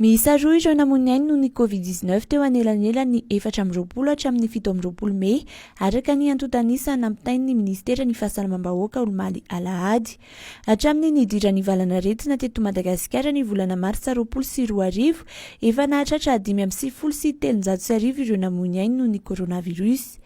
Miisa roa ireo namoy ainy noho ny Covid dix neuf teo anelanelan'ny efatra amby roapolo hatramin'ny fito amby roapolo mey, araka ny antontan'isa nampitain'ny minisiteran'ny Fahasalamam-bahoaka omaly alahady. Hatramin'ny nidiran'ny valanaretina teto Madagasikara ny volana martsa roapolo sy roa arivo, efa nahatratra dimy amby sivifolo sy telonjato sy arivo ireo namoy ainy noho ny coronavirus.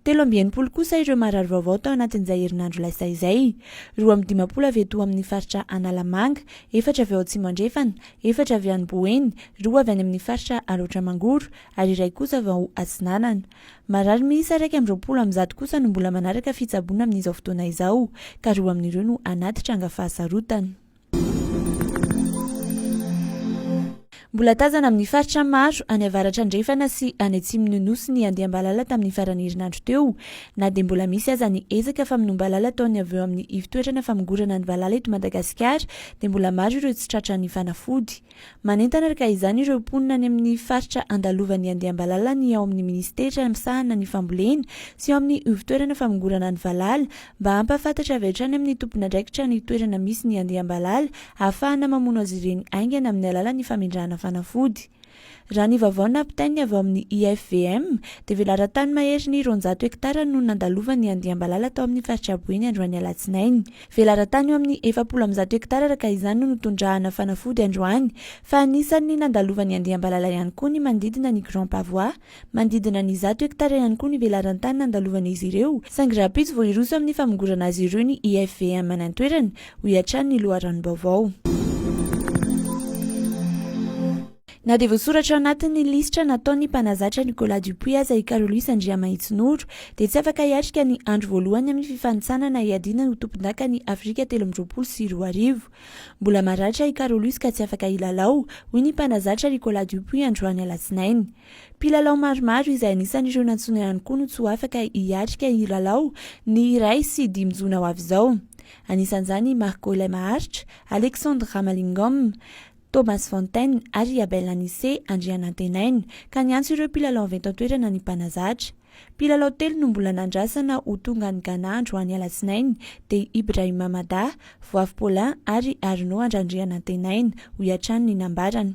Telo amby enimpolo kosa ireo marary vaovao tao anatin'izay herinandro lasa izay, roa amby dimampolo avy eto amin'ny faritra Analamanga, efatra avy ao Atsimo Andrefana, efatra avy any Boeny, roa avy any amin'ny faritra Alaotra Mangoro ary iray kosa avy ao Atsinanana. Marary miisa iraika amby roapolo amby zato kosa no mbola manaraka fitsaboana amin'izao fotoana izao ka roa amin'ireo no anaty tranga fahasarotana. Mbola tazana amin'ny faritra maro any avaratra andrefana sy any atsimon'ny Nosy ny andiam-balala tamin'ny faran'ny herinandro teo na dia mbola misy aza ny ezaka famonoam-balala ataon'ny avy eo amin'ny ivon-toetrana famongorana ny valala eto Madagasikara dia mbola maro ireo tsy tratra ny fanafody. Manentana arka izany ireo mponina any amin'ny faritra andalovan'ny andiam-balala ny ao amin'ny minisitera misahana ny fambolena sy ao amin'ny ivon-toerana famongorana ny valala mba hampahafantatra avy hatrany amin'ny tompon'andraikitra ny toerana misy ny andiam-balala ahafahana mamono azy ireny haingana amin'ny alalan'ny famindrana fanafody Raha ny vaovao nampitain'ny avy ao amin'ny IFVM, dia velaran-tany maherin'ny roanjato hektara no nandalovan'ny andiam-balala tao amin'ny faritra Boeny androany alatsinainy. Velaran-tany eo amin'ny efapolo amby zato hektara araka izany no notondrahana fanafody androany, fa anisan'ny nandalovan'ny andiam-balala ihany koa ny manodidina ny Grand Pavois, Manodidina ny zato hektara ihany koa ny velaran-tany nandalovan'izy ireo, saingy rahampitso vao hiroso amin'ny famongorana azy ireo ny IFVM any an-toerana, hoy hatrany ny loharanom-baovao. Na dia voasoratra anatin'ny lisitra nataon'ny mpanazatra Nicolas Dupuis aza i Carl Louis Andriamahitsinoro, dia tsy afaka hiatrika ny andro voalohany amin'ny fifanintsanana hiadiana ho tompondakan'i Afrika telo amby roapolo sy roa arivo. Mbola maratra i Carolus ka tsy afaka hilalao, hoy ny mpanazatra Ricolas Dupuis androany alatsinainy. Mpilalao maromaro izay anisan'ireo nantsoina ihany koa no tsy ho afaka hiatrika hilalao, ny iray sy dimy jona ho avy izao. Anisan'izany i Marco Ilay Maharitra, Alexandre Ramalingom, Thomas Fontaine ary i Abel Anissé Andrianantenaina, ka niantso ireo mpilalao avy eto an-toerana ny mpanazatra. Mpilalao telo no mbola nandrasana ho tonga any Ghana androany alatsinainy dia Ibrahima Mada, Voavy Paulin ary Arnaud Andrandrianantenaina, hoy hatrany ny nambarany.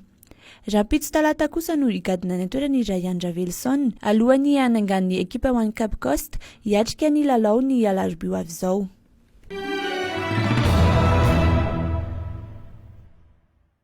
Rahampitso talata kosa no higadona any an-toerana i Ryan Ravelison, alohan'ny hanangan'ny ekipa One Cup Coast hiatrika ny lalao ny alarobia ho avy izao.